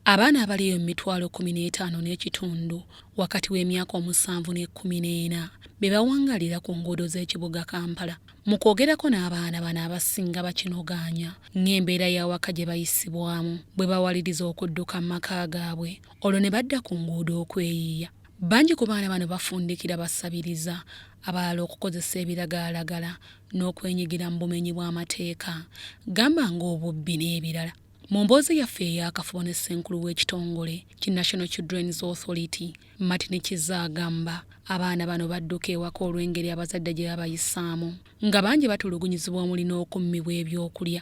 Abaana abaliyo mu mitwalo kumi n'etaano n'ekitundu wakati w'emyaka omusanvu n'ekkumi n'ena be bawangalira ku nguudo z'ekibuga Kampala. Mu kwogerako n'abaana bano abasinga bakinogaanya ng'embeera y'awaka gye bayisibwamu bwe bawaliriza okudduka mu maka gaabwe olwo ne badda ku nguudo okweyiiya. Bangi ku baana bano bafundikira basabiriza abalala okukozesa ebiragalalagala n'okwenyigira mu bumenyi bw'amateeka gamba ng'obubbi n'ebirala. Mu mboozi yaffe ey'akafubo ne ssenkulu w'ekitongole ki National Children's Authority, Martin Kizza agamba abaana bano badduka ewaka olw'engeri abazadde gye babayisaamu nga bangi batulugunyizibwa omuli n'okummibwa ebyokulya.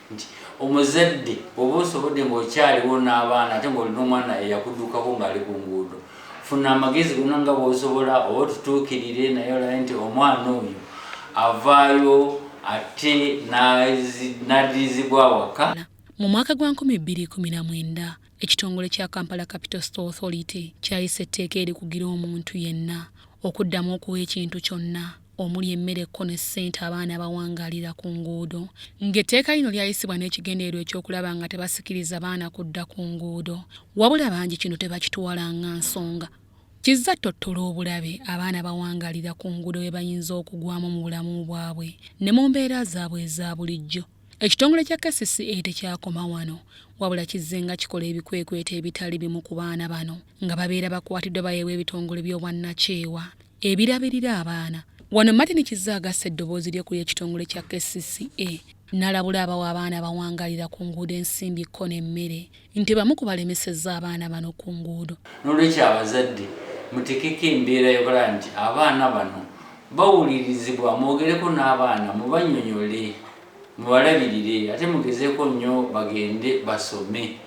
nti omuzadde oba osobodde ng'okyaliwo n'abaana ate ng'olina omwana eyakuddukako ng'ali ku nguudo funa amagezi gona nga bwosobola oba otutuukirire naye olabe nti omwana oyo avaayo ate n'addirizibwa awaka mu mwaka gwa 2019 ekitongole kya kampala capital store authority kyayisa etteeka erikugira omuntu yenna okuddamu okuwa ekintu kyonna omuli emmere kko ne ssente abaana abawangaalira ku nguudo ng'etteeka lino lyayisibwa n'ekigendererwa eky'okulaba nga tebasikiriza baana kudda ku nguudo wabula bangi kino tebakitwala nga nsonga kizza ttottola obulabe abaana bawangaalira ku nguudo bwe bayinza okugwamu mu bulamu bwabwe ne mu mbeera zaabwe eza bulijjo ekitongole kya kcca tekyakoma wano wabula kizze nga kikola ebikwekweto ebitali bimu ku baana bano nga babeera bakwatiddwa bayeebwa ebitongole by'obwannakyewa ebirabirira abaana wano martin kizza agassa eddoboozi lye ku ly'ekitongole kya kcca nalabula abawa abaana bawangalira ku nguudo ensimbi kko n'emmere nti bamu ku balemesezza abaana bano ku nguudo n'olwekyo abazadde mutekeko embeera yokulaba nti abaana bano bawulirizibwa mwogereko n'abaana mubanyonyole mubalabirire ate mugezeko nnyo bagende basome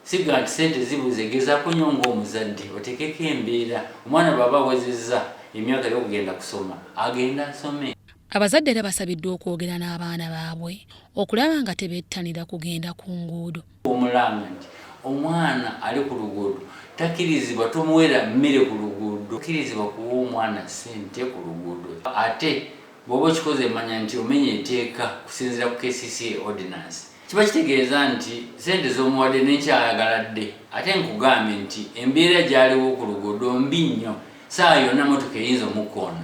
Sigala nti sente zibuze gezako nyo ng'omuzadde otekeko embeera omwana bwaba awezezza emyaka ey'okugenda kusoma agende asome. Abazadde era basabiddwa okwogera n'abaana baabwe okulaba nga tebettanira kugenda ku nguudo. Omulanga nti omwana ali ku luguudo takirizibwa tomuwera mmere ku luguudo, tokirizibwa kuwa omwana sente ku luguudo ate bwoba okikoze manya nti omenya eteeka kusinzira ku kcca ordinance. kiba kitegeeza nti sente zomuwadde nekyayagaladde ate nkugambye nti embeera gyaliwo ku luguudo mbi nnyo saa yonna motoka eyinza omukkoona